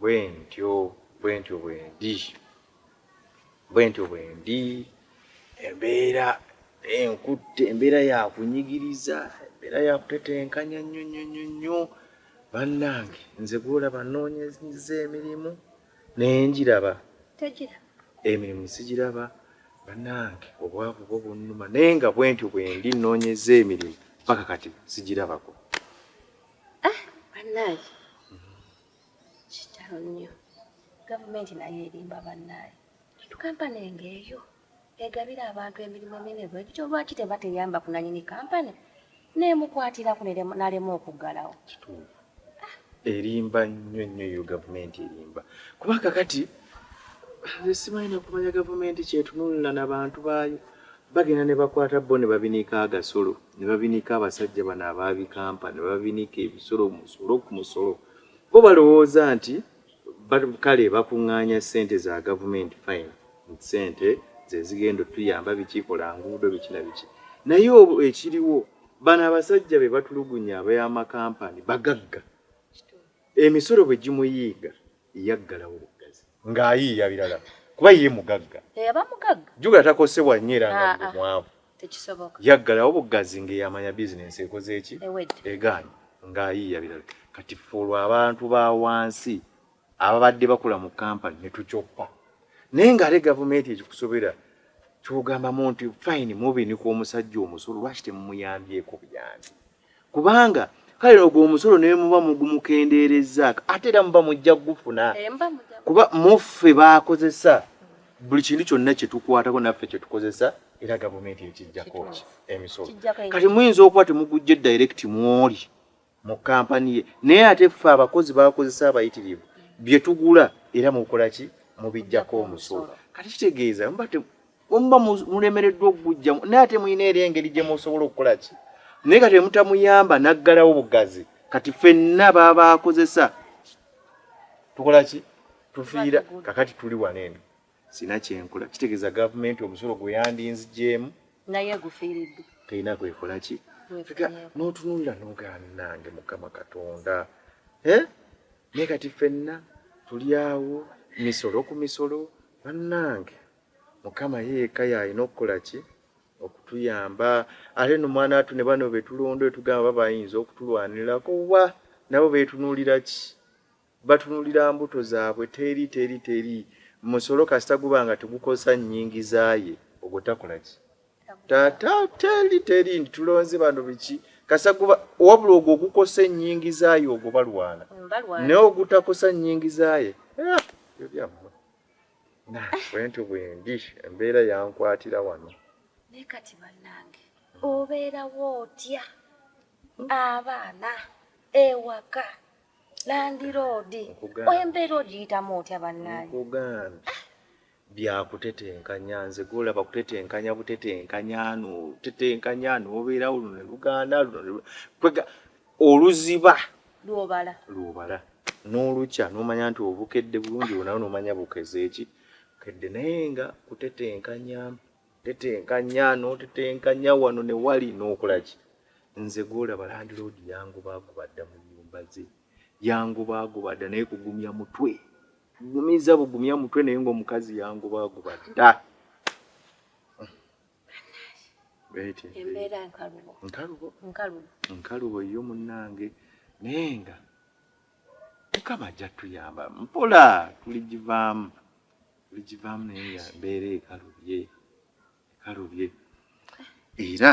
bwentyo bwentyo bwendi bwentyo bwendi embeera enkutte embeera yakunyigiriza embeera yakutetenkanya nnyo nnyo nnyo nnyo bannange nze gwolaba noonyeza emirimu naye njiraba emirimu sigiraba bannange obwavu bwo bunnuma naye nga bwentyo bwendi noonyeza emirimu paka kati sigirabako Ah, bannaaye kitalo nnyo gavumenti nayo erimba bannaaye kintu kampani enge eyo egabira abantu emirimu emine bwe gityo lwaki teba teyamba kunanyini kampani nemukwatirako nalema okuggalawo ah. erimba nnyo nnyo eyo gavumenti erimba kuba kakati nze simanyi nakumanya gavumenti kyetunulira nabantu baayo Bagenda ne bakwata bo ne babinika agasolo, ne babinika abasajja bano abaabikampa, ne babinika ebisolo, musolo ku musolo. Bo balowooza nti kale bakuŋŋaanya ssente za gavumenti fine, nti ssente ze zigenda otuyamba biki, kola nguudo biki na biki. Naye ekiriwo bano abasajja be batulugunya ab'amakampani bagagga. Emisolo bwe gimuyiiga yaggalawo buggazi. Ng'ayiiya birala kuba ye mugagga. Eyaba eh, mugagga. Jjukira takosebwa nnyo era nga ah, ah. mwavu. Tekisoboka. Yaggalawo buggazi ng'eyamanya bizinensi ekoze eki? Egaanyi ng'ayiiya birala. Kati ffe olwo abantu ba wansi ababadde bakola mu kampani ne tukyoppa. Naye ng'ate gavumenti ekikusobera kyogamba muntu fine mubini ku omusajja omusolo lwaki temumuyambyeko buyambi kubanga kale ogwo omusolo ne muba mugumukendeerezzaako ate era muba mujja kugufuna eh, kuba muffe baakozesa buli kintu kyonna kye tukwatako naffe kye tukozesa era gavumenti ekijjako ki emisolo kati muyinza okuba temugujje direct mwoli mu kampani ye naye ate ffe abakozi bakozesa abayitirivu bye tugula era mukola ki mubijjako omusolo kati kitegeeza muba omuba mulemereddwa okugujjamu naye ate mulina era engeri gye musobola okukola ki naye kati emutamuyamba naggalawo bugazi kati fenna baba akozesa tukola ki tufiira kakati tuli wano eno sina kyenkola kitegeeza gavumenti omusolo gwe yandinzigyemu naye gufiiriddwa teyina kwekola ki n'otunulira nogaanange mukama katonda eh? naye kati fenna tuli awo misolo ku misolo bannange mukama yeeka yalina okukola ki okutuyamba ate no mwana atu ne bano betulonda etugamba bayinza okutulwanirako wa nabo betunuulira ki batunulira mbuto zaabwe teri teri teri musolo kasita guba nga tegukosa nyingiza ye ogwo takola ki tata teri teri nti tulonze bano biki kasita guba wabula ogwo ogukosa enyingiza ye ogwo balwana naye ogutakosa nyingiza ye eh, ebyammwe bwentyo bwendi embeera yankwatira wano naye kati bannange obeerawo otya abaana ewaka landiroodi embeera ogiyitamu otya bannange nkugambye byakutetenkanya nze golaba kutetenkanya butetenkanya notetenkanya nobeerawo luno ne lugaana luno kwega oluziba lwobala lwobala n'olukya n'omanya nti obukedde bulungi bunawo n'omanya bukeze eki kedde naye nga kutetenkanya tetenkanya n'otetenkanya wano ne wali n'okola ki nze gwolaba landiroodi yangobaagoba dda mu nyumba ze yangobaagoba dda naye kugumya mutwe gumiza bugumya mutwe naye ng'omukazi yangobaagoba dda embeera nkalubo nkalubo nkalubo nkalubo yo munnange naye nga mukama ajja tuyamba mpola tuligivaamu tuligivaamu naye nga mbeera ekalubye ekalubye era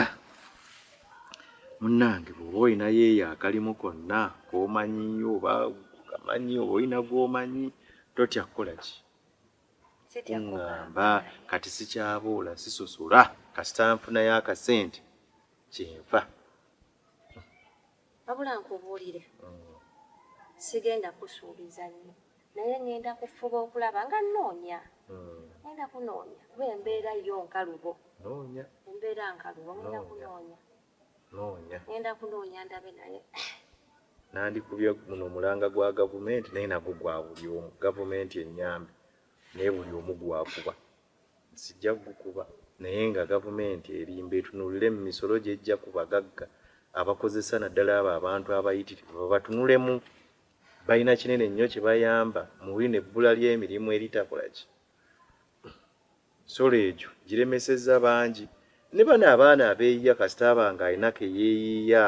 munnange bwoba olinayo eyo akalimu konna komanyi oba kamanyi oba olina gwomanyi totya kukola ki kuŋŋamba kati sikyabuula sisosola kasita nfunayo akasente kyenfa wabula nkubuulire mm. sigenda kusuubiza nnyo naye ŋŋenda kufuba okulaba nga nnoonya mm. ŋenda kunoonya kuba embeera yo nkalubo embeera nkalubo ŋenda kunoonya noonya ngenda kunoonya ndabe naye nandikubye muno mulanga gwa gavumenti naye nagwo gwa buli omu gavumenti enyambe naye buli omu gwakuba sijja gukuba naye nga gavumenti erimba etunulire mu misolo gyejja ku bagagga abakozesa naddala abo abantu abayitirivu babatunulemu balina kinene nnyo kye bayamba mu buli nebbula ly'emirimu eritakola ki Solo egyo giremesezza bangi ne bano abaana abeeyiya kasita aba nga alina ke yeeyiiya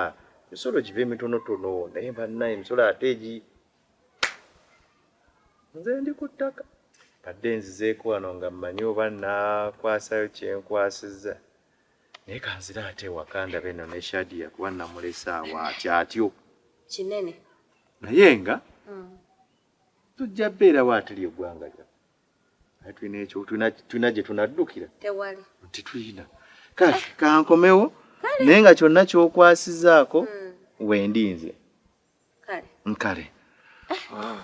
emisolo gibe mitonotono naye banna emisolo ate egi nze ndi ku ttaka badde nzizeeko wano nga mmanyi oba nakwasayo kyenkwasizza naye kanzira ate ewaka ndaba eno ne shadia kuba namulese awo atya atyo kinene naye nga hmm. tujja beerawo atuli eggwanga lyaffe naye tulina ekyo tulina gye tunaddukira tewali nti tulina kati kankomewo naye nga kyonna kyokwasizaako hmm. wendi nze nkale ah.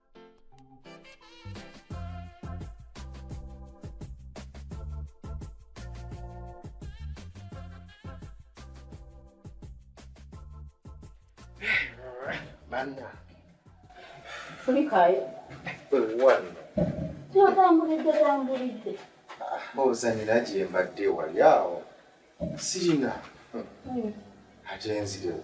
Anna. Kulikayo. Wano. Kyotambulidde tambulidde. Mbuuza nina gye mbadde wali awo. Sirina. Ate nzirewo.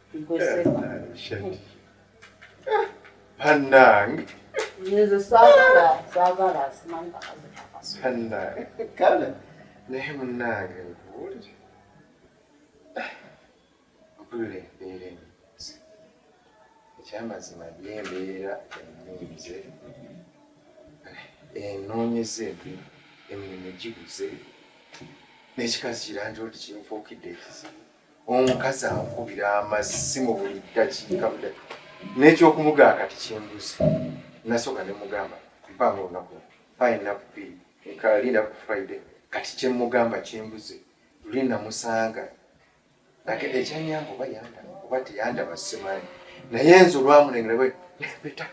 Panang. Yesu sagala sagala simanyi kakazi kakazi. Panang. Kale naye munnange nkuwulire. Mpulira embeera ennyiizi. Ekyamazima by'embeera ennyiizi enoonyeza embi emirimu gibuze n'ekikazi kirangira nti kinfuukidde ekizibu. omukazi ankubira amazzi mu buli ddakiika budaki n'ekyokumugaa kati kyembuze nasooka ne mugamba mpanga olunaku payinaku bbiri ekalinda ku friday kati kyemugamba kyembuze luli namusanga ate ekyanyamba oba yandaba oba teyandaba simanyi naye nze olwamulengera bwe nebeta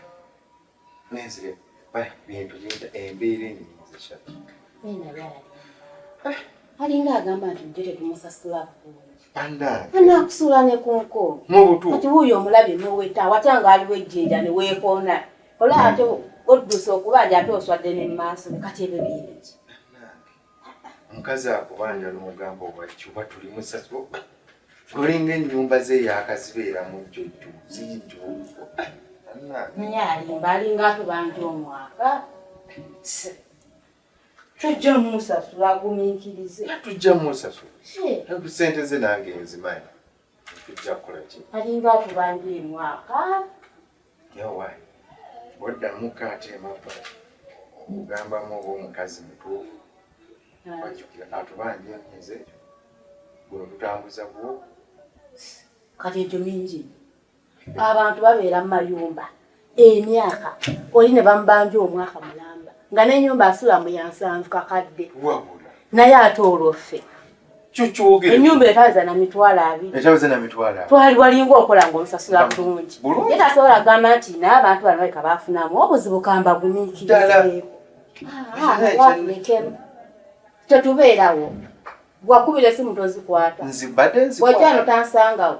Nenzire bali bintu bintu embeera enyi nzisha. Nina byali. Eh. Alinga agamba nti mjere kumusasula kukulu. Anda. Ana kusula ne kunko. Mubutu. Kati huyo omulabi noweta watanga aliwe jinja ne wekona. Ola ate oddusa okuba ajja ate oswadde ne maaso kati ebyo bingi. omukazi akubanja nomugamba obwakki oba tuli musasi olinga enyumba ze yakazibeera mujjo jjo zijjo naye alimba alinga atubanja omwaka tujja musasula agumiikirize tujja musasula sente ze nange nzimanyi alinga atubanja emwaka yawayi oddamuko ate emabbali okugambamu oba omukazi mutuufu ajukira atubanja enze guno tutambuza gwo kati ekyo mingi abantu babeera mu mayumba emyaka oli ne bamubanja omwaka mulamba nga n'enyumba asula mu yansanvu kakadde naye ate olwoffe enyumba etaza na mitwalo abiri twali walinga okola nga omusasula bulungi ye tasobola kugamba nti naye abantu bano baleka bafunamu obuzibu kambagumiikirizeeko tetubeerawo wakubira esimu tozikwata wajja no tansangawo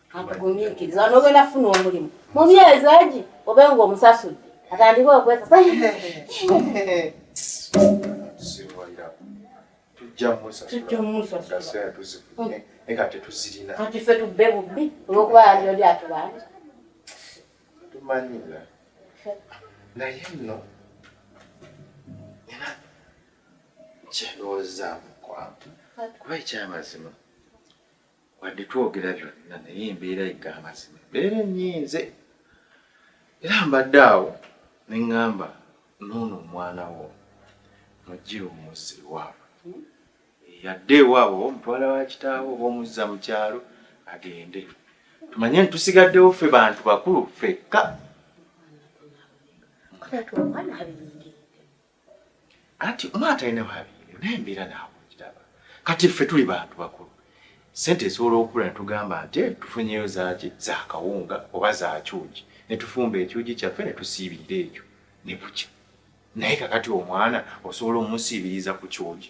akugumiikiriza onogenda kufuna omulimu mu myezi egi obe nga omusasudde atandike okwesasa kati fe tubbe bubbi olwokuba yali oli atubanja tumanyira naye nno era kyendowoozamu kwantu kuba ekyamazima wadde twogera byonna naye embeera yegga amazima embeera enyiinze era mbadde awo ne ŋŋamba noono omwana wo mujje omuzza ewaabwe hmm? yadde ewaabwe oba omutwala wa kitaawo oba omuzza mu kyalo agende tumanye nti tusigaddewo ffe bantu bakulu ffekka Anti omwana talina babiri naye embeera naawe okiraba. Kati ffe tuli bantu bakulu. Ssente esobola okukula ne tugamba nti eh, tufunyeyo zaaki za kawunga oba za kyugi ne tufumba ekyugi kyaffe ne tusiibirira ekyo ne bukya. Naye kakati omwana osobola omusiibiriza ku kyugi?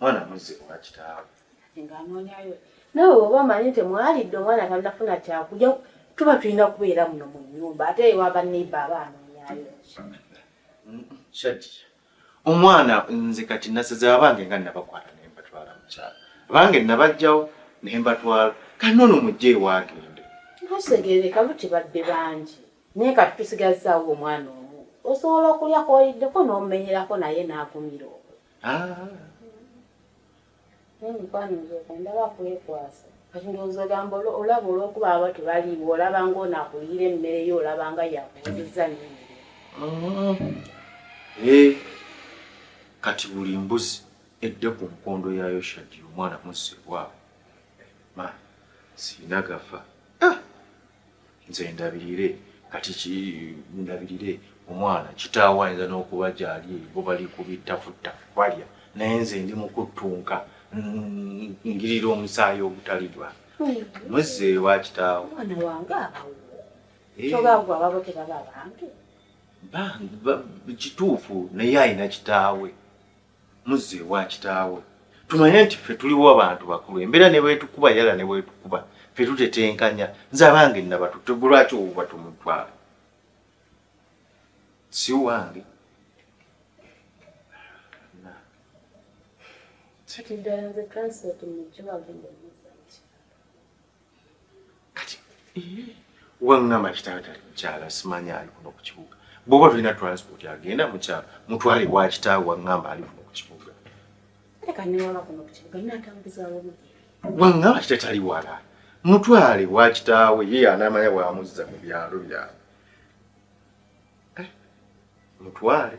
mwana muzze owa kitaawe ng'anoonyayo nawe oba omanyi nti mwalidde omwana tanafuna kyakulya tuba tulina kubeera muno mu nyumba ate ewa baneiba aba anoonyayo shadiya omwana nze kati nasaze abange nga nabakwata naye mbatwala mukyalo abange nabajjawo naye mbatwala kati noono mujja ewagende ntusegereka butibadde bangi naye kati tusigazaawo omwana omu osobola okulya kwoliddeko n'omumenyerako naye n'agumira okwo Ah. Emikwano nzoka ndaba kwekwasa kati ndowooza ogamba olaba olwokuba aba tebaliiwo olaba ngaono akuliyira emmere yo olaba nga yakuwuzizza nnyini ah. eh. kati buli mbuzi edde ku nkondo ya yoshadi omwana musse waabwe ma siina gafa ah. nze ndabirire kati ndabirire omwana kitaawo ayinza n'okuba gyali bo bali ku bittafuttafu balya naye nze ndi mukuttunka ngirira omusaayi ogutali gwa muzzeeyo wa kitaawo omwana wange abawo eh. tobaagwa babo tebaba bange kituufu naye alina kitaawe muzze ewa kitaawo tumanye nti ffe tuliwo abantu bakulu embeera ne bwetukuba yala ne bwetukuba ffe tutetenkanya nze abange nabatutte gwe lwaki owuba tumutwala si wange kati ddala nze transport mujjo wagenda kati wangamba kitaawe tali mukyala simanya ali kuno ku kibuga bwoba tulina transport agenda mukyala mutwale wa kitaawe wangamba ali kuno ku kibuga wangamba kitatali wala mutwale wa kitaawe ye anamanya bwamuzza mu byalo byalo eh, mutwale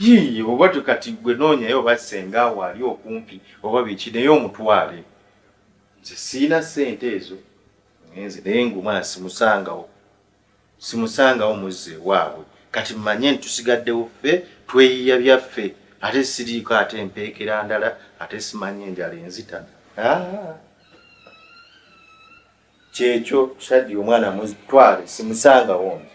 Yii oba kati gwe noonyayo oba ssenga awo ali okumpi oba biki naye omutwale. Nze sirina ssente ezo ngenze naye ng'omwana simusangawo, simusangawo muzze ewaabwe kati mmanye nti tusigaddewo ffe tweyiiya byaffe ate siriiko ate mpeekera ndala ate simanyi enjala enzita. Ah! Kyekyo Shaddy omwana mutwale simusangawo nze.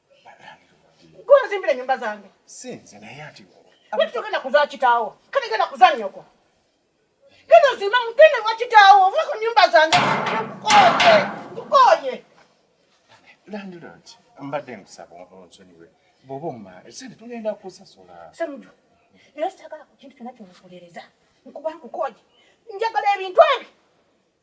Gwe nyumba zange. Si nze naye ati. Wewe tokenda kuzaa kitaawo. Kale genda kuzaa nyoko. Genda ozimba mugende wa kitaawo. Ovuga ku nyumba zange. Nkukoye. Nkukoye. Landlord, mbadde nkusaba onsonyiwe. Bw'oba omma, esente tugenda kusasula. Semuju, era sitagala ku kintu kyonna kyomukolereza. Nkuba nkukoye. Njagala ebintu ebyo.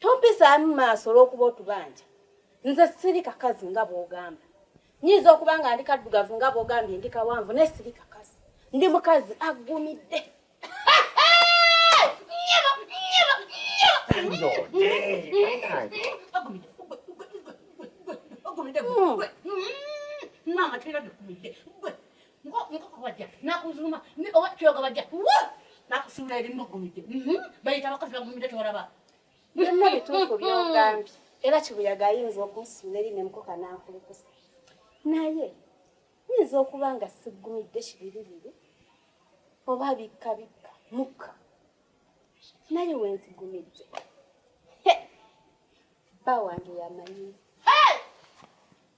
tompisaamu maaso olw'okuba otubanja nze siri kakazi nga bw'ogamba nyinza okuba nga ndi kaddugavu nga bw'ogambye ndi kawanvu naye siri kakazi ndi mukazi aggumidde nkoko bajja nakuzuma oba kyoga bajja nakusuula eri mugumidde mhm. bayita abakazi bagumidde tolaba byonna bituufu byogambye era kibuyaga ayinza okunsuula eri nemukoka nankulukusa naye yinza okuba nga sigumidde kibiribiri oba bikka bikka mukka naye wenzigumidde bba wange yamanyi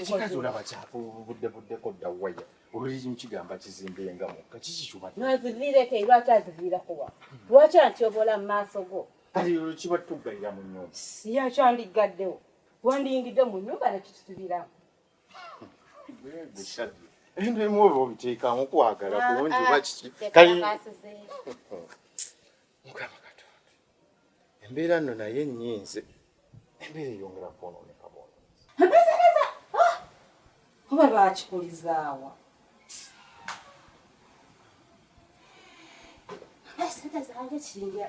ekikazi olaba kyapa obudde buddeko dda waya oluliri mukigamba kizimbe nga mukka kiki kyubaazivirieko lwaki azivirakowa lwaki antyobola mu maaso go kati kiba tugalira mu nyumba yakyandiggaddewo wandiyingidde mu nnyumba nekitusibiramu ebintu ebimu oba obiteekamu kwagala kulungi oba kiki mukama katonda embeera nno naye nyinze embeera eyongera kwonooneka bwonoonzi ah! oba lwakikulizaawa sente zange kiringa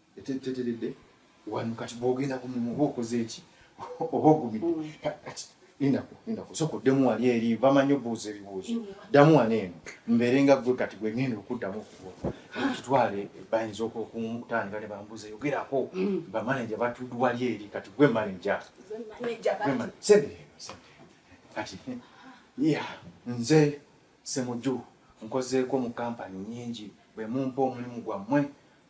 teteredde wano kati bwogenda ku mumu oba okoze eki oba ogumidde mm. kati lindako lindako soka oddemu wali eri bamanyi obuuza ebibuuzo mm. ddamu wano eno mbeere nga gwe kati gwe ngenda okuddamu okuwa kitwale bayinza okutandika ne bambuuza yogerako mm. bamaneja batudde wali eri kati gwe maneja kati ya nze semuju nkozeeko mu kampani nyingi bwe mumpa omulimu gwammwe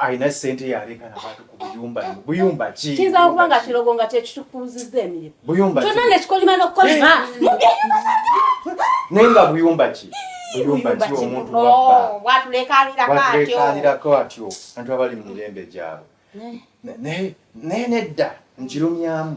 alina sente yaleka nabantu ku buyumba buyumba ki kiyinza okuba nga kirogo nga kyekitukuuzizza emirimu buyumba kyonna nekikolima nokukolima naye nga buyumba ki buyumba ki omuntu wabatulekalirako atyo antu abali mu mirembe gyabwe naye nedda nkirumyamu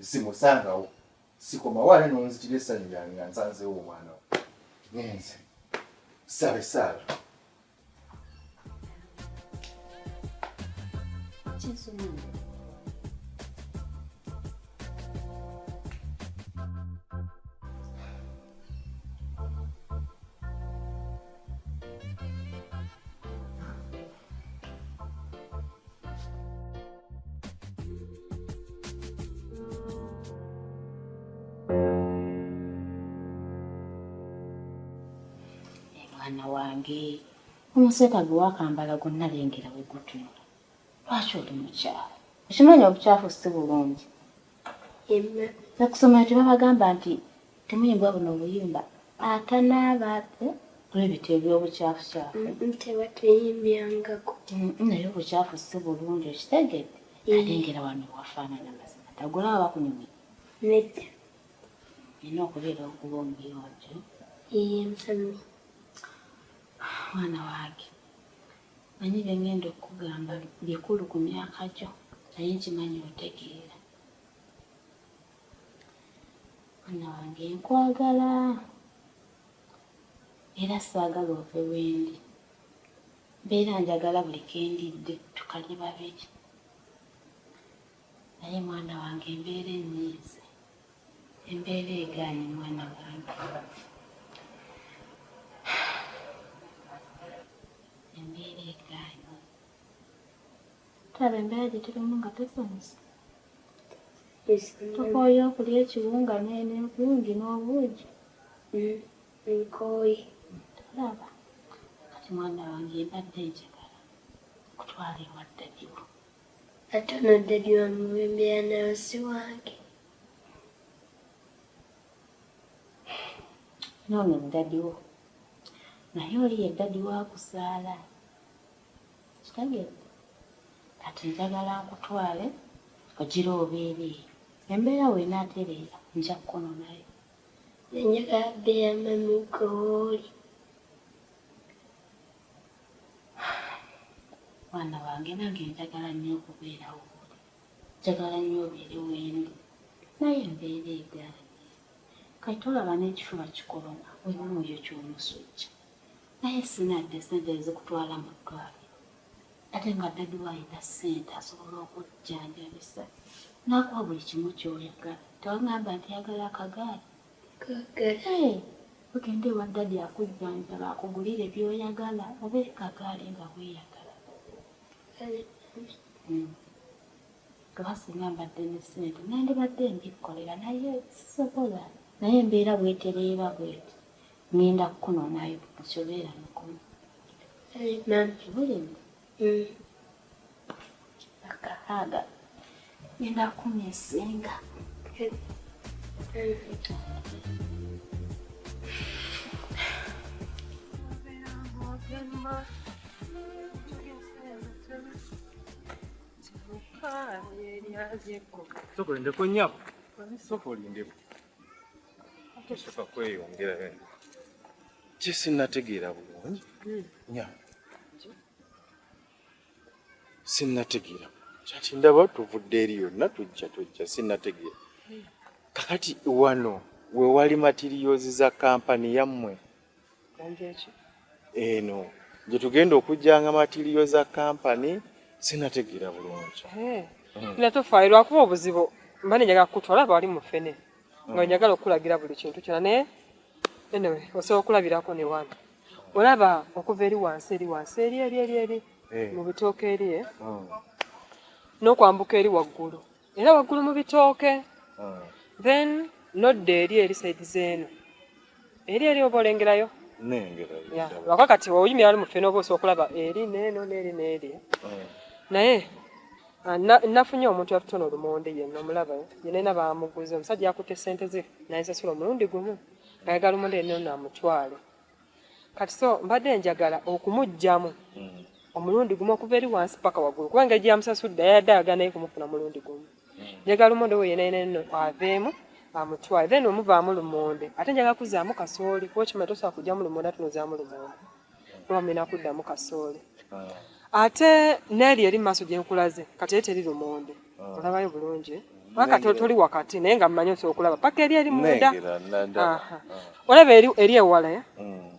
simusangawo sikomawo ale nonzitira essanyu lyange nga nsanzeewo omwana wo ngenze saba esaala mwana wange omuseka gwe wakambala gonna lengera we gutunula lwaki oli mukyalo okimanyi obukyafu si bulungi nakusomero tebabagamba nti temuyimbwa buno obuyimba atanaaba eh, kulebita ebyobukyafucyafu mm, mm, tebateyimbyangaku mm, naye obukyafu si bulungi okitegedde ate ngera wano wafaanana mazima tagula aba kunyumira nedda nina okubeera okuba omuyonjo iye mwana wange Manyi byengenda okugamba bikulu ku myaka gyo naye nkimanyi otegeera. Mwana wange nkwagala era saagala ove wendi. Mbeera njagala buli kendidde tukalye babiri naye mwana wange embeera ennyiize. Embeera egaanyi mwana wange. Embeera egaanyi. Tulaba embeera gye tulimu nga tusanyuse. Tukooye okulya ekiwunga n'envungi n'obuugi. Mm, nkooye. Tulaba. Kati mwana wange mbadde njagala kutwala ewa ddadiwo. Ate ono dadi wa muwembe yanayo si wange. Noono dadi wo naye oli ye dadi wakuzaala kitegeeza kati njagala nkutwale ogira obeere embeera weena atereera nja kkono nayo nenjagala beera mami gooli mwana wange nange njagala nnyo okubeerawo njagala nnyo obeere wendi naye embeera egaanye kati olaba n'ekifuba kikoloma wemuoyo kyomusujja naye sinadde sente ezikutwala mu ddwaliro ate nga dadi wayina sente asobola okujjanjabisa nakuwa buli kimu kyoyagala tewagamba nti yagala akagaali ogende ewa dadi akujjanjaba akugulire byoyagala oba ekagaali nga bweyagala kuba singa mbadde ne ssente nandibadde mbikkolera naye sisobola naye embeera bwetereeba bweti ngenda kukunonayo nsobera mukulu eh, Akaaga ngenda kumya esinga Sokolindeko nyabo. Sokolindeko. Tosoka kweyongera bene. Kye sinnategeera bulungi. Nyabo. sinnategeera kati ndaba tuvudde eri yonna tujja tujja sinnategeera kakati wano we wali matiriyoozi za kampani yammwe eno gye tugenda okujjanga matiriyo za kampani sinnategeera bulungi nga tofaayo lwakuba obuzibu mba nenjaga kukutwala bali mufene nga njagala okukulagira buli kintu kyona naye anyway osobola okulabirako ne wano olaba okuva eri wansi eri wansi eri eri eri eri eh. mu bitooke eri eh? hmm. n'okwambuka eri waggulu era waggulu mu bitooke hmm. then nodda eri eri saidi zeeno eri eri oba olengerayo lwaka kati oyimira ali muffe noba osa okulaba eri neeno neeri neeri mm. naye ah, nafunye omuntu yatutona olumonde yena omulaba yenena bamuguza omusajja yakutte sente ze nayesasula omulundi gumu ayagala omuntu yenna ono amutwale kati so mbadde njagala okumugyamu mm. omulundi gumu okuva eri wansi paka waggulu kubanga egiyamusasudde yayadde ayagala naye kumufuna mulundi gumu njagala omonde wo yena yena no kwavemu amutwale then omuvaamu lumonde ate njagala kuzaamu kasooli kuba okimanyi tosobola kugyamu lumonde ate nozaamu lumonde kuba mulina kuddamu kasooli ah. ate neeri eri mu maaso gye nkulaze kati eri teri lumonde ah. olabayo bulungi paka toli wakati naye nga mmanyi osobola okulaba paka eri eri munda ah. olaba eri ewala eh? mm.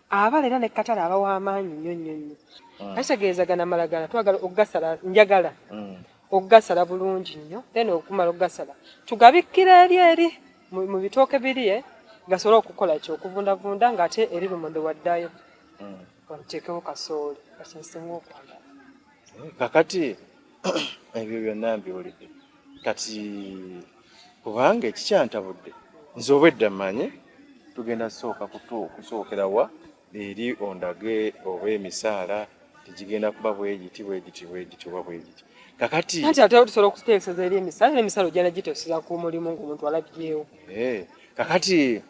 abala era nekatala aba wamaanyi nnyo nnyo nnyo ah. ategeeza gana malagala twagala okugasala njagala mm. okugasala bulungi nnyo then okumala okugasala tugabikkira eri eri mu bitooke biri e gasobole okukola ki okuvundavunda ng'ate eri lumonde waddaayo mm. oteekewo kasooli kasinsinga okwagala kakati ebyo byonna mbiwulidde kati kubanga ekikyantabudde nze obwedda mmanyi tugenda kusooka kutu kusookera wa eri ondage oba emisaala tegigenda kuba bwegiti bwegiti bwegiti oba bwegiti kakati anti ate tusobola okuteeseza eri emisala era emisala ojana giteeseza ku mulimu ngaomuntu alabyewo eh, kakati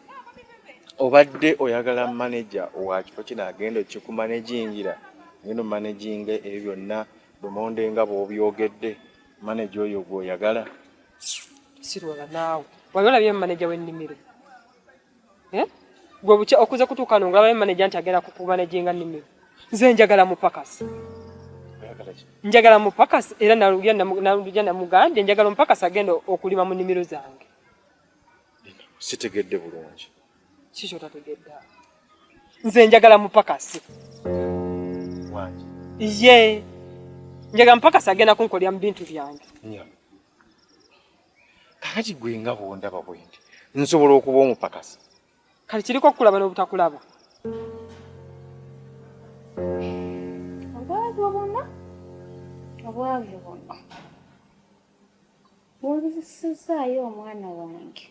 obadde oyagala maneja wa kifo kino agenda okikumanejingira ngeno maneginga ebyo byonna Lumonde nga bw'obyogedde maneja oyo gw'oyagala sirwala naawe wali olabye maneja w'ennimiro eh? gwe bukya okuze kutuuka no ngolabayo maneja nti agenda kukumaneja nga nnimiro nze njagala mupakasi njagala mupakasi era naluja namugambye njagala omupakasi agenda okulima mu nnimiro zange sitegedde bulungi Kikyo tategedda. Nze njagala mupakasi. Wangi. Iye. Njagala mupakasi agenda kunkolya mu bintu byange. Nya. Kakati gwe nga bwondaba bwendi. Nsobola okuba omupakasi. Kati kiriko okulaba n'obutakulaba. Obwagyo bonna. Obwagyo bonna. Wabizisizaayo omwana wange.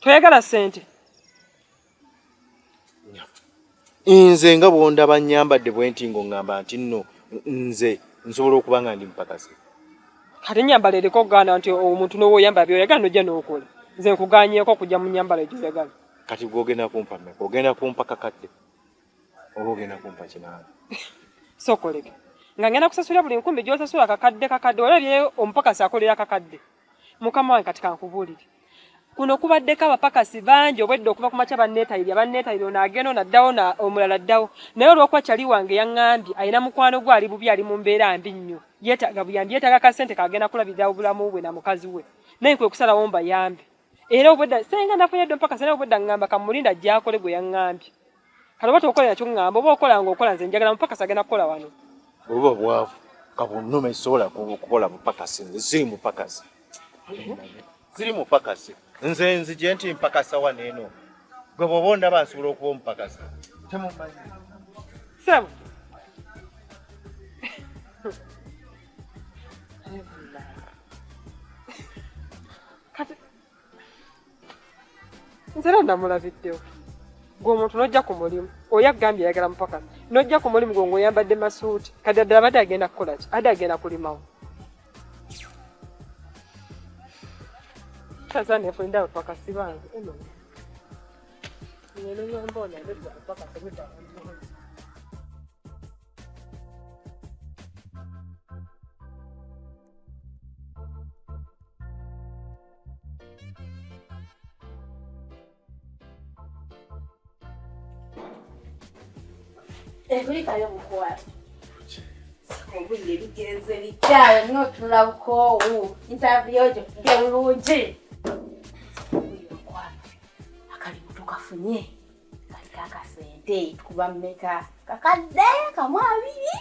toyagala sente nze nga bwondaba nyambadde bwenti ngo ngamba nti nno nze nsobola okuba nga ndi mupakasi kati nyambala eriko okugaana nti omuntu nowoyamba byoyagala nojja nokola nze nkuganyeko okujja mu nyambala egyoyagala kati gwogenda kumpa meka ogenda kumpa kakadde oba ogenda kumpa kinaana sokoleke nga ngenda kusasula buli nkumi gyosasula kakadde kakadde olabye omupakasi akolera kakadde so mukama wange kati kankubuulire kuno kubaddeko abapakasi bangi obwedda okuva ku makya banneetayirya banneetayirya ono agenda ono addawo omulala addawo naye olwokuba kyali wange yaŋŋambye alina mukwano gwe ali bubi ali mu mbeera mbi nnyo yeetaaga buyambi yeetaaga kasente kagenda kulabirira obulamu bwe na mukazi we naye kwe kusalawo mbayambi era obwedda senga nafunye ddo mpaka sena obwedda ŋŋamba kamulinda gyakole gwe yaŋŋambye kale oba tokola nakyo ŋŋamba oba okola nga okola nze njagala mupakasi agenda kukola wano oba bwavu kabunnuma esobola kukola mupakasi nze siri mupakasi siri mupakasi nze nzije nti mpakasa wano eno gwe bwoba ondaba nsobola okuba omupakasi temumanyi sebo nze era namulabiddewo gwe omuntu nojja ku mulimu oyo agambye ayagala mupakasi nojja ku mulimu gwe ngaoyambadde masuuti kati addala badde agenda kukola ki adde agenda kulimawo tazanefulindawe pakasi bange nyenenyambona pakasi Ekulikayo mukwano. Obudde bigenze bityayo nyo tulabukoowu. Interview gyo gye bulungi. kafunye kali kakasente tukuba mmeka kakadde kamu abiri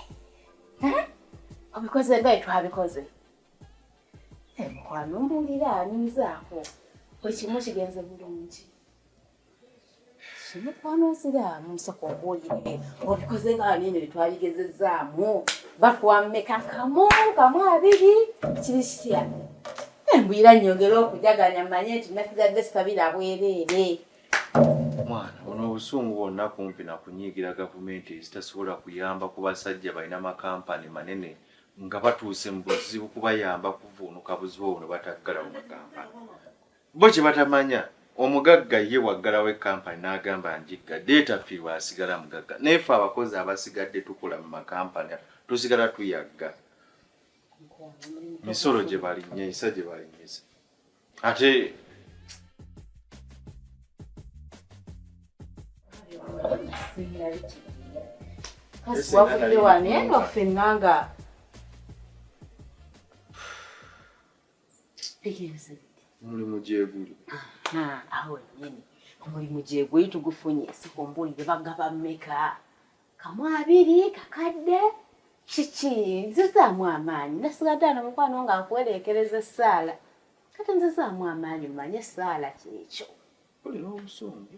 obikoze nga etwabikoze mukwano mbuulira anyumizaako bwe kimu kigenze bulungi mukwano nsiraamu nsoko obuulire obikoze nga banene betwabigezezzaamu bakuwammeka kamu kamu abiri kiri kitya embwira nyongere okujaganya manye nti nasigadde sisabira bwereere mwana ono obusungu bwonna kumpi nakunyiigira gavumenti ezitasobola kuyamba ku basajja balina makampani manene nga batuuse mu buzibu kubayamba kuvuunuka buzibu obwo nebataggala mu makampani bo kye batamanya omugagga ye waggalawo ekampani n'agamba njigga deetafiirwa asigala mugagga naye fe abakozi abasigadde tukola mu makampani tusigala tuyagga misolo gye balinyisa gye balinyisa ate kasi wavudde wano eno ffenna nga omulimu gyeguli awo nyini omulimu gyeguli tugufunye sikumbuulire bagaba meka kamu abiri kakadde kiki nzizaamu amaanyi nasigadde ano mukwano nga akuwereekereza essaala kati nzizaamu amaanyi mumanye essaala kyekyo kulira obusungu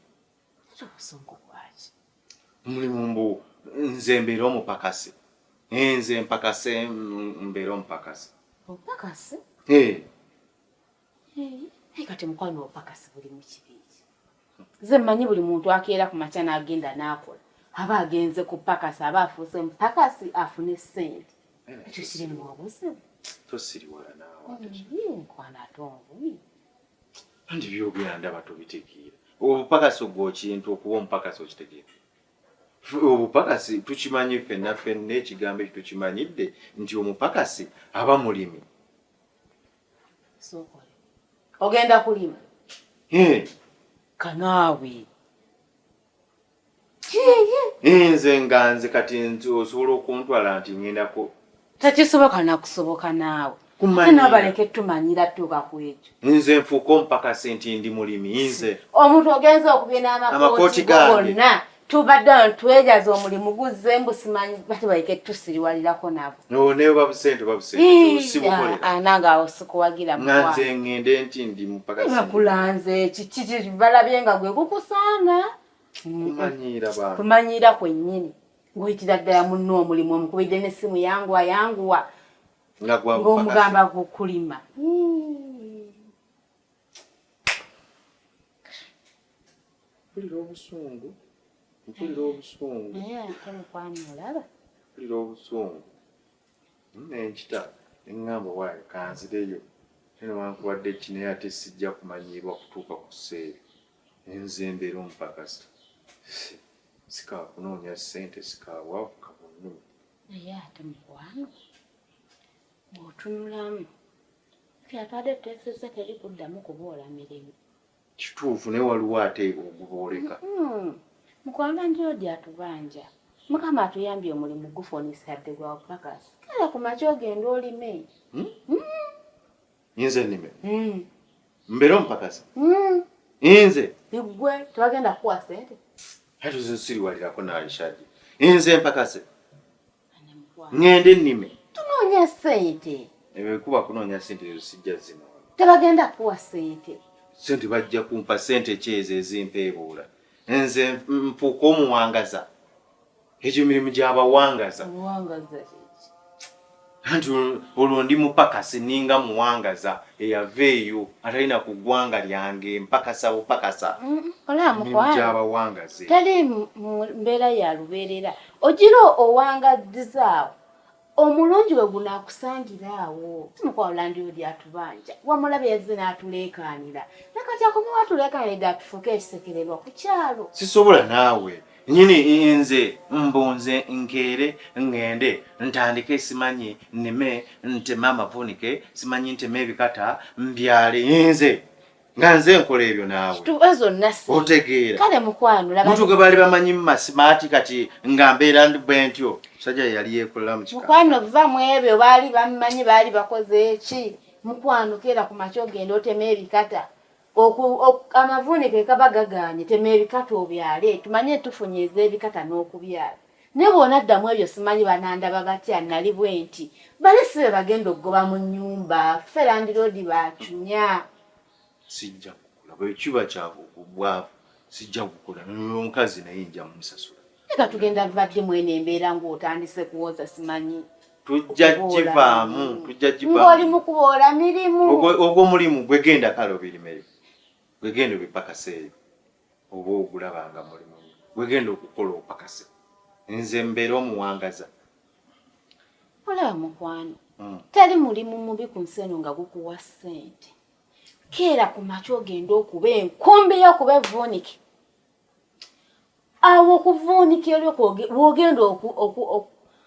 ate obusungu bwaki omulimu mbu nze mbeera omupakasi eh, nze mpakase mbeera omupakasi omupakasi eh. naye kati mukwano opakasi buli mukibingi nze mmanyi buli muntu akeera ku makya n'agenda n'akola aba agenze ku pakasi aba afuuse mupakasi afune ssente eh. ekyo kiri mu obuzibu tosiriwala naawenkwana ate omubi andi byogera ndaba tobitegeera obupakasi ogwo kintu okuba omupakasi okitegeera obupakasi tukimanyi fenna fenna ekigambo ekyo tukimanyidde nti omupakasi aba mulimi ogenda kulima kanaawe nze nga nze kati nti osobola okuntwala nti ngenda ku takisoboka nakusoboka naawe nabaleke tumanyira tuuka ku ekyo nze nfuuka omupakasi nti ndi mulimi nze omuntu ogenza okubina amakooti gonna tubadde wano twejaza omulimu guzze mbu simanyi batubaleke tusiriwalirako nabo no naye oba busente oba busente sibukolera ah, ah, nange awo sikuwagira nga nze ngende nti ndi mupaka nga kulanze kiki balabye nga gwe gukusaana kumanyiira bantu kumanyiira kwennyini ng'oyitira ddala munno omulimu omukubidde n'essimu yanguwa yanguwa ng'omugamba gukulima mpulira obusungu mpulira obusungu naye ate mukwano olaba mpulira obusungu nenkita neŋŋamba waayo kanzireyo te newankubadde ki naye ate sijja kumanyiirwa kutuuka ku seeri enze mbeera omupakasi sikaakunoonya ssente sikaawavu kabunnu naye ate mukwano bw'otunulamu kyatwade tuteesezza teri kuddamu kuboola mirimu kituufu naye waliwo ate ogubooleka hmm. mukwano njoodi atubanja mukama atuyambye omulimu gufonisabbe gwa bupakasi kala ku makya ogenda olime hmm? Hmm. nze nime mbeera omupakasi nze igwe tebagenda kukuwa sente ate ozensiriwalirako naishaji nze mpakase ngende nnime tunoonya sente ebikuba kunoonya sente ezo sijja zino tebagenda kuwa sente sente bajja kumpa sente kyezo ezimpeebuula nze mpuuka omuwangaza egyo mirimu gyabawangaza anti olwo ndi mupakasi ninga muwangaza eyava eyo atalina ku ggwanga lyange mpakasa bupakasa mm, gyabawangaze tali mbeera ya lubeerera ogira owangaddiza awo omulungi we gunaakusangira awo simukwano landi odi atubanja wamulabe yazze n'atuleekaanira nakati akomewo atuleekaanirde atufuuke ekisekererwa ku kyalo sisobola naawe nyini nze mbunze nkeere ŋŋende ntandike simanyi nnime nteme amavunike simanyi nteme ebikata mbyale nze nga nze nkola ebyo naawe otegeera kale mukwano laba mutu gwe baali bamanyi mu masimaati kati nga mbeera ndi bwe ntyo musajja yeyali yeekolera mu kika mukwano va mu ebyo baali bamumanyi baali bakoze eki mukwano keera ku makya ogenda otema ebikata amavuunike kaba gagaanye tema ebikata obyale tumanye tufunye ez'ebikata n'okubyala ne bw'onadda mu ebyo simanyi banandaba batya nali bwe nti bali si be bagenda okugoba mu nnyumba ffe landiroodi baatumya sijja kukula bwe kiba kyabwavu sijja kukula noyo omukazi naye nja mumusasula eka tugenda vvadde mwene embeera ng'otandise kuwoza simanyi tujja kivaamu tujja kivaamuoli mu kuboola mirimu ogwo mulimu gwegenda kale obirimeyo gwegenda obipakaseeyo oba ogulaba nga mulimu gwegenda okukola opakase nze mbeera omuwangaza olaba mukwano hmm. tali mulimu mubi ku nsi eno nga gukuwa ssente keera ku makya ogenda okuba enkumbi y'okuba evuunike awo okuvuunikira lwogenda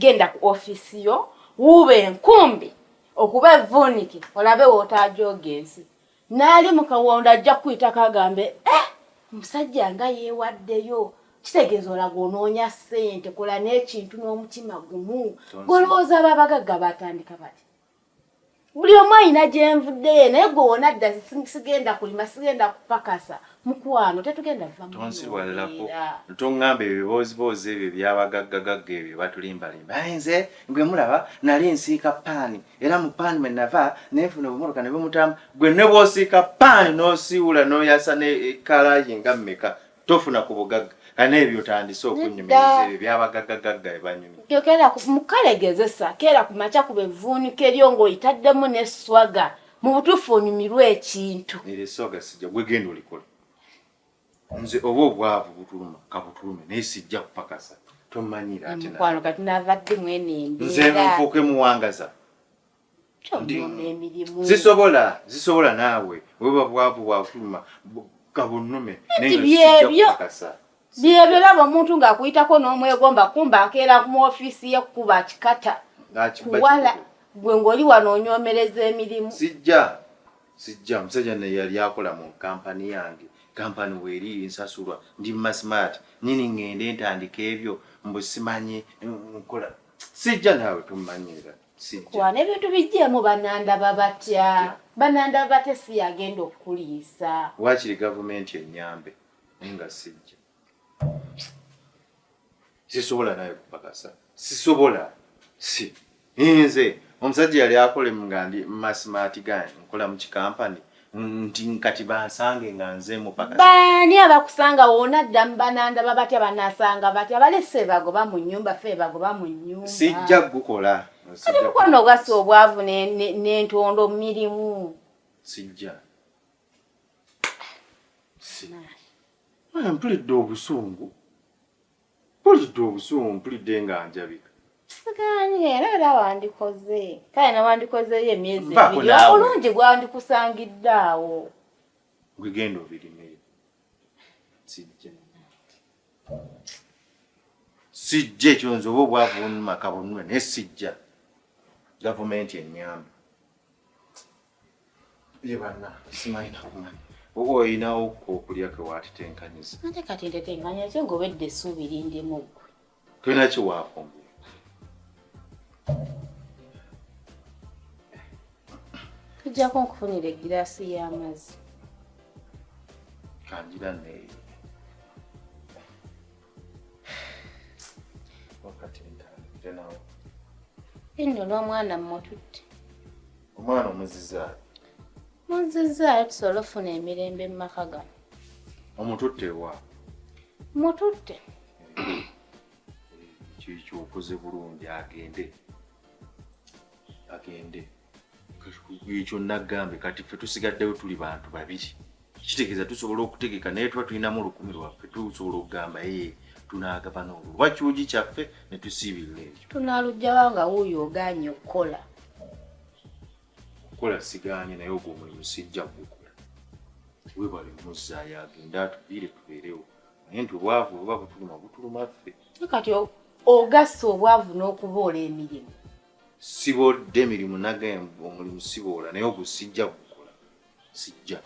Genda ku office yo wuube enkumbi okuba evvuunike olabe w'otaajooga ensi. N'ali mu kawondo ajja kukuyitako agambe eh omusajja nga yeewaddeyo kitegeeza olaga onoonya ssente kola n'ekintu n'omutima gumu. Golowooza aba abagagga baatandika bati. buli omu ayina gyenvuddeyo naye gwe wona dda sigenda kulima sigenda kupakasa mukwano tetugenda vamutonsiwalirako tongamba ebyo bibooziboozi ebyo byabagaggagagga ebyo batulimbalimba aye nze gwe mulaba nali nsiika paani era mu paani mwe nava nenfuna obumoroka ne bumutamu gwe ne bwosiika paani nosiiwula noyasa ne ekalayi nga mmeka tofuna ku bugagga kana ebyo otandise okunyumiriza ebyo byabagaggagagga ebanyumya tokera mukale gezesa kera ku makya ku bevuunika eryo ng'oyitaddemu n'esswaga mu butuufu onyumirwa ekintu era esswaga sijja gwe genda olikola nze oba obwavu butuluma kabutulume naye sijja kupakasa tomanyira ate mukwano kati navadde mwene embeera nze nfuuke muwangaza zisobola zisobola naawe weba bwavu bwafuluma gabunnume byebyo byebyo laba omuntu ng'akuyitako n'omwegomba kumba akeera mu ofiisi ye kukuba kikata kuwala gwe ng'oli wano onyomereza emirimu sijja sijja musajja naye yali akola mu kampani yange kampani weeri nsasulwa ndi masmart nini ng'ende ntandika ebyo mbusimanyi nkola sijja naawe tummanyira kuwa n'ebintu bijjeemu banandaba batya banandaba batya si yagenda okukuliisa waakiri gavumenti ennyambe naye nga sijja sisobola naye kupakasa sisobola si nze omusajja yali akolemu nga ndi masimaati gani nkola mu kikampani nti nkati bansange nga nze mupaka baani abakusanga wona dda mubananda babatya banasanga batya balese bagoba mu nyumba fe bagoba mu nyumba sijja gukola kati mukwano ogasa obwavu nentondo ne, ne mirimu sijja mpulidde obusungu Mpulidde obusungu, mpulidde nga njabika. Ganye era era wandikoze kale newandikozeeyo emyezi ebiri obulungi gwandikusangidde awo gwegenda obirimeyo sijja ekyo nze oba obwavu bunuma kabunula naye sijja gavumenti enyamba Ye banna simanyi nakumanyi oba olinawo okulya ke watitenkanyiza ate kati ntetenkanya ki ngobedde essuubi lindimu ggwe tolina ki waafumbye tujjako nkufunira egiraasi y'amazzi kangira neeyo wakati ntanze nawo enno n'omwana mmututte omwana omuzizaayo muzizaayo tusobole ofuna emirembe mu maka gano omututte wa mututte kyekyo okoze bulungi agende agende ekyo naggambe kati ffe tusigaddeyo tuli bantu babiri kitegeeza tusobola okutegeka naye tuba tulinamu olukumi lwaffe tusobola okugamba ee tunaagabana olwo oba kiwugi kyaffe ne tusiibirira ekyo tunaalugjawa nga wuuyo ogaanye okukola okukola sigaanye naye ogwo omulimu sijja gukola webale muzzaayo agende atubiire tubeerewo naye nti obwavu oba butuluma butuluma ffe kati ogassa obwavu n'okuboola emirimu siboodde emirimu nage omulimu siboola naye ogwo sijja sijja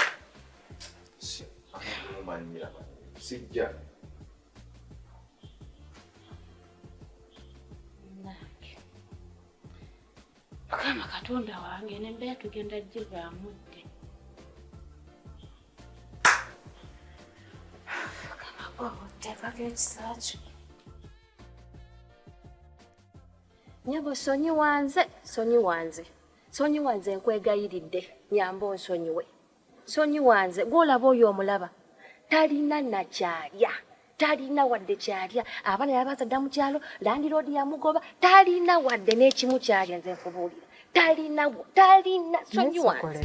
sijja sijja mukama katonda wange nembeera tugenda givaamu dde mukama gwobutekako ekisakyo nyabo sonyi wanze sonyi wanze sonyiwa nze nkwegayiridde nyamba onsonyiwe sonyiwa nze gwolaba oyo omulaba talina nakyalya talina wadde kyalya abaana yabazadda mu kyalo landiroodi yamugoba talina wadde n'ekimu kyalya nze nkubuulira talina talina sonyiwa nze